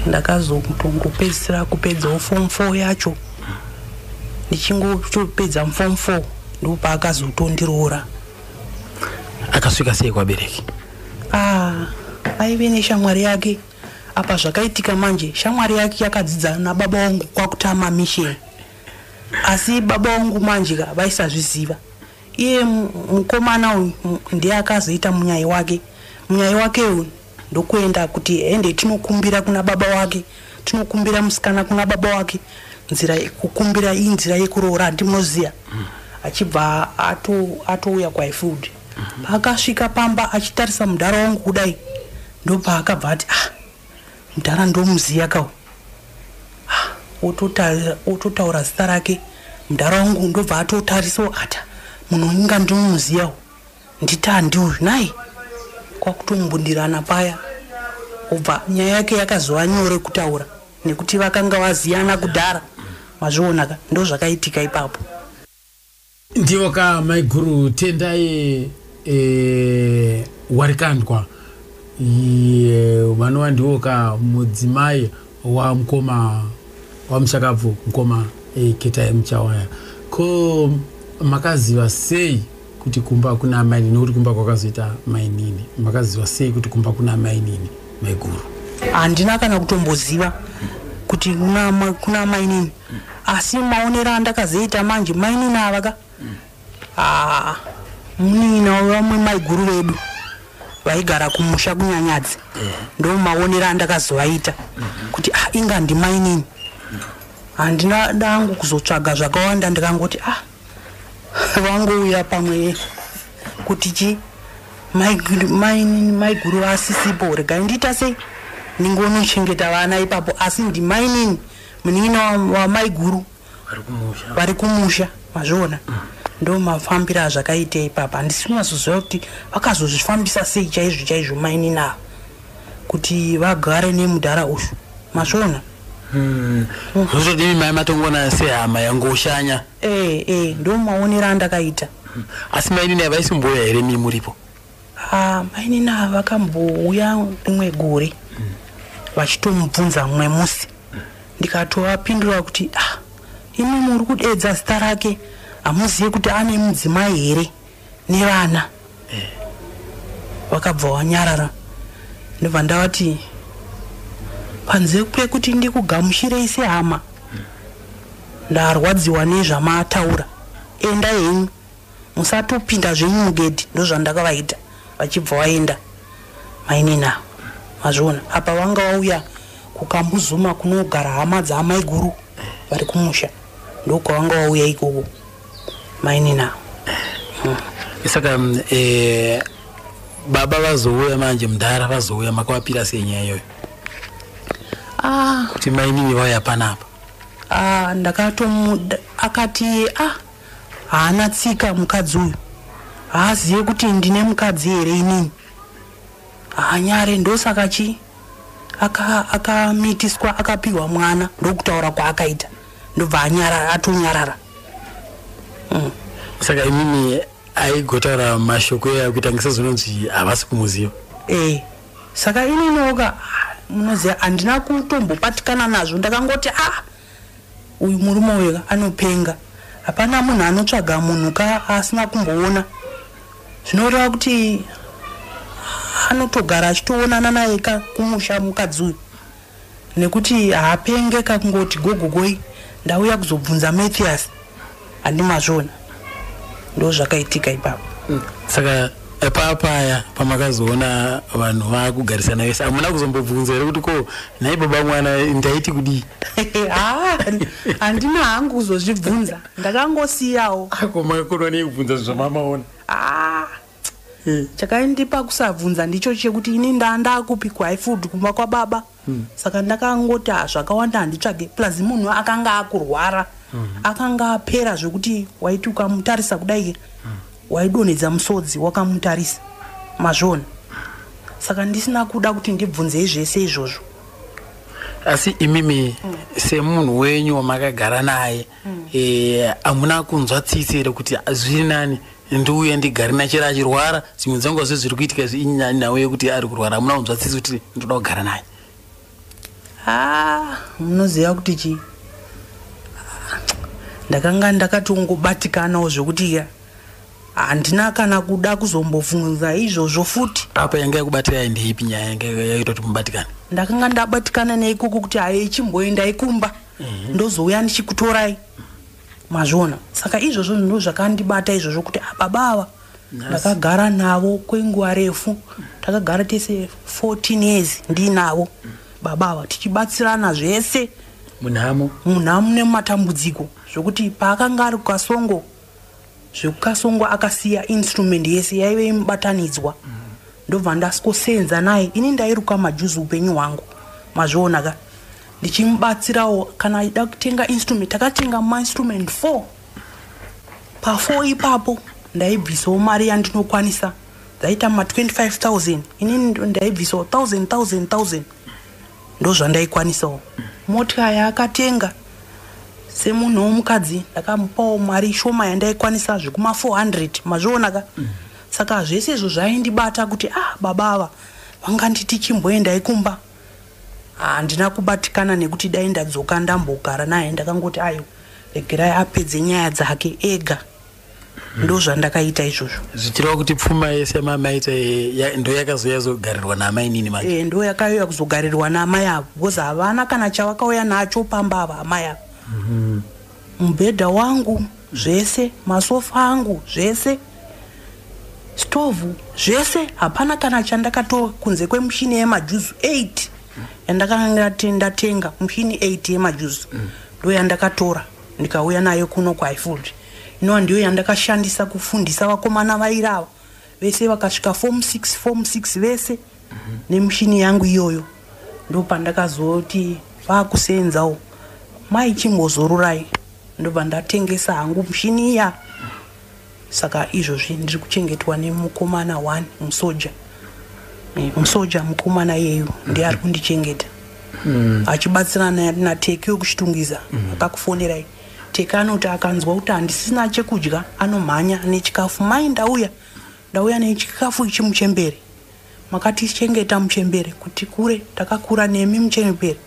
ndakazongopedzisira kupedzawo form 4 yacho ndichingotopedza form 4 ndopaakazotondiroora akasvika sei kwabereki Ah, aive neshamwari yake apa zvakaitika manje shamwari yake yakadzidza nababa wangu kwakutama mission asi baba wangu manje ka vaisazviziva iye mu- mukomana uyu mu- ndiye akazoita munyai wake munyai wake uyu ndokuenda kuti ende tinokumbira kuna baba wake tinokumbira musikana kuna baba wake nzira ye- kukumbira iyi nzira yekuroora handimunoziva achibva ato- atouya kwaifud paakasvika pamba achitarisa mudhara wangu kudai ndopaakabva ati ah mudhara ndomuziya kawo ah, ototaura zita rake mudhara wangu ndobva atotarisawo ata munhu inga ndinomuziyawo nditandi uyu nai kwakutombundirana paya obva nyaya yake yakazova nyore kutaura nekuti vakanga vaziyana kudhara mazvionaka ndozvakaitika ipapo Ndivo ka maiguru tendai e, warikandwa vanova ndivo ka mudzimai wamukoma wamushakabvu mukoma e, eh, ketai muchawaya ko makaziva sei kuti kumba kuna mainini nekuti kumba kwakazoita mainini makaziva sei kuti kumba kuna mainini maiguru handina kana kutomboziva kuti kuna mainini asi maonero andakazoita manje mainini ava ka haa munin'ina wevamwe maiguru vedu vaigara kumusha kunyanyadzi ndo maonero andakazovaita kuti ah inga ndimainini handina dangu kuzotsvaga zvakawanda ndikangoti ah vangouya pamwe kuti chii maiguru vasisipo regai ndiita sei ndingonochengeta vana ipapo asi ndimainini Munin'ina wamaiguru vari kumusha mazviona mm. ndo mafambiro azvakaita ipapa handisi kunyazoziva kuti vakazozvifambisa sei chaizvo chaizvo mainini ava kuti vagare nemudhara uyu masvona hmm. zvozodii mai matongona sehama yangoshanya ee eh, ee eh, ndomaonera andakaita hmm. asi mainini avaisimbouya here mii muripo Ah, mainini ava vakambouya rimwe gore vachitomubvunza mumwe musi ndikatovapindura kuti ah, imi muri kudeedza zita rake hamuzive kuti ane mudzimai here nevana vakabva vanyarara ndobva ndavati panze pekuti ndikugamushirei sehama ndarwadziwa nezvamataura enda henyu musatopinda zvenyu mugedhi ndozvandakavaita vachibva waenda mainini ava mazviona apa vanga vauya kukambuzuma kunogara hama dzaamaiguru vari kumusha ndokwavanga vauya ikoko mainini ava hmm. saka mm, eh, baba vazouya manje mudhara vazouya makavapira sei nyaya iyoyo ah. kuti mainini vauya panapa ah, ndakatomuda akati ah Haana tsika mukadzi uyu. Haazive kuti ndine mukadzi here inini. Haanyare ndosaka chi akamitiswa aka akapihwa mwana ndokutaura kwaakaita ndobva anyarara atonyarara. Mm. Saka imimi aigotaura mashoko eya kuita ngisazononzi havasi kumuziva. Eh. Saka inini oka munoziva handina kutombopatikana nazvo ndakangoti ah Uyu murume uyu anopenga. Hapana munhu anotsvaga munhu ka asina kumboona. Zvinoreva kuti anotogara achitoonana naye ka kumusha mukadzi uyu. Nekuti haapenge ka kungoti gogogoi ndauya kuzobvunza Mathias. handi mazviona ndo zvakaitika ipapo mm. saka epaya paya pamakazoona vanhu vakugarisana vese hamuna kuzombobvunza here kuti ko nhai baba mwana ndaiti kudii ah, handina hangu kuzozvibvunza ndakangosiyawo ako ah, makakonwa nei kubvunza zvinhu zvamamaona ah, eh. chakaindipa kusabvunza ndicho chekuti ini ndandakupi kwaifud kumba kwababa mm. saka ndakangoti ah, zvakawanda handitsvage plus munhu akanga akurwara mm. akanga apera zvekuti waiti ukamutarisa kudai mm. waidonhedza musodzi wakamutarisa mazvona saka ndisina kuda kuti ndibvunzei zvese izvozvo asi imimi mm. semunhu wenyu wamakagara naye hamuna kunzwa tsitsi here kuti zviri nani ndiuye ndigare nachera achirwara dzimwe dzenguva zve zviri kuitika izvi inyani nhau yekuti ari kurwara hamuna kunzwa tsitsi kuti ndoda kugara naye haa munoziva kuti chii ndakanga ndakatongobatikanawo zvekuti handina kana kuda kuzombobvunza izvozvo futi apa yanga yakubatira yaimbeipi nyaya yanga yaitoti mubatikane ndakanga ndabatikana neikoko kuti haye chimboendai kumba mhm. ndozouya ndichikutorai mazviona saka izvozvo ndo zvakandibata izvozvo kuti ah, baba ava ndakagara navo kwenguva refu takagara tese 14 years ndiinavo baba ava tichibatsirana zvese munhamo munhamo nemumatambudziko zvokuti paakanga ari kukasongo zvekukasongwa akasiya instrument yese yaive imubatanidzwa ndobva ndasikosenza naye ini ndairuka majuzi upenyu hwangu mazviona ka ndichimubatsirawo kana aida kutenga instrument takatenga mainstrument four pafour ipapo ndaibvisawo mari yandinokwanisa dzaita ma 25 000 inini ndaibvisawo 1000 1000 1000 ndozvandaikwanisawo motika yaakatenga semunhu womukadzi ndakamupawo mari shoma yandaikwanisa zvekuma 400 mazvionaka mm. saka zvese izvo zvaindibata kuti ah baba ava vanganditi chimboendai kumba handina ah, kubatikana nekuti dai ndadzoka ndambogara naye ndakangoti ayo regerai apedze nyaya dzake ega ndozvandakaita izvozvo zvichireva kuti pfuma yese yamamaita eh, ndo yakazouya zogarirwa naamai nini manje eh, ndo yakauya kuzogarirwa naamai avo bcause havana kana chavakauya nacho pamba ava amai avo mhm. mubhedha mm -hmm. wangu zvese masofa angu zvese stovhu zvese hapana kana chandakatora kunze kwemushini yemajuzu 8 yandakanga ndatenga mushini 8 yemajuzu mm. ndo yandakatora mm. ndikauya nayo kuno kwaifulry inova ndiyo yandakashandisa kufundisa vakomana vairava vese vakasvika form 6 form 6 vese mhm. nemushini yangu iyoyo ndopandakazoti vakuseenzawo maichimbozorurai ndobva ndatengesa hangu mushini iya Saka izvozvi ndiri kuchengetwa nemukomana one musoja eh, musoja mukomana iyeyu ndiye ari kundichengeta hmm. achibatsirana nateki wekuchitungiza hmm. akakufonerai teki anoti akanzwa kuti handisina chekudya anomhanya nechikafu mai ndauya ndauya nechikafu ichi muchembere makatichengeta muchembere kuti kure takakura nemi muchembere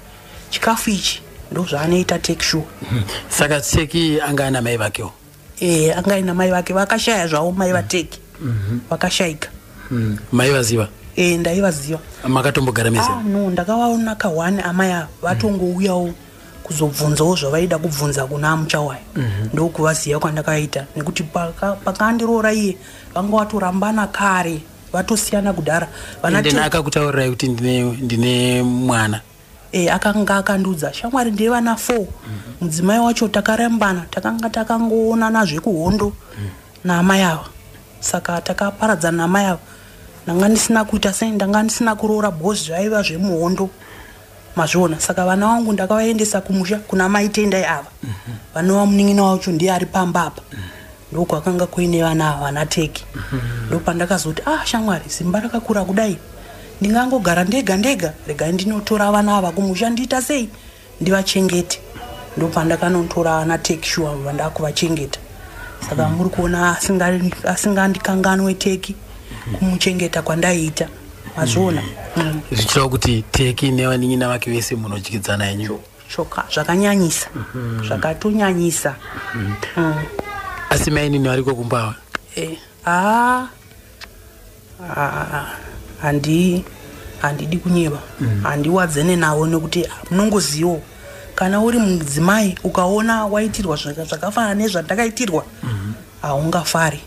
chikafu ichi ndozvaanoita teki shuwa hmm. saka teki anga ana mai vakewo eh anga ina mai vake vakashaya zvawo mai vateki mhm. vakashaika mm. mai vaziva eh ndaivaziva makatombogara mese ah, no ndakavaona ka one amai ava vatongouyawo mm kuzobvunzawo zvavaida kubvunza kuna muchawaya mm -hmm. ndokuvaziva kwandakaita nekuti pakandiroora iye vanga vatorambana kare vatosiyana kudhara vanakakutaurirai kuti ndine mwana e, akanga akandiudza shamwari ndiye vana four mm -hmm. mudzimai wacho takarembana takanga takangoonana zvekuhondo mm. naamai ava saka takaparadzana naamai ava ndanga ndisina kuita sei ndanga ndisina kuroora bos zvaiva zvemuhondo mazviona saka vana vangu ndakavaendesa kumusha kuna maitendai ava mm -hmm. vanova munin'ina wacho ndiye ari pamba apa mm -hmm. ndokwakanga kuine vana ava vana teki mhm. ndopandakazoti ah shamwari simba rakakura kudai ndingangogara ndega ndega regai ndinotora vana ava kumusha ndiita sei ndivachengete ndopandakanotora vana teki shuwa vandakuvachengeta saka mhm. muri kuona asingandikanganwe teki mhm. kumuchengeta kwandaiita mazviona zvichitaura kuti teki nevanin'ina vake vese munodyidzana yenyu choka zvakanyanyisa mm -hmm. zvakatonyanyisa mm -hmm. mm. asi mainini variko kumbawa eh. ah. ah. handi handidi kunyeba mm. handiwadzene mm. navo nekuti munongozivo kana uri mudzimai ukaona waitirwa zvakafanana nezvandakaitirwa mm-hmm. haungafari mm -hmm.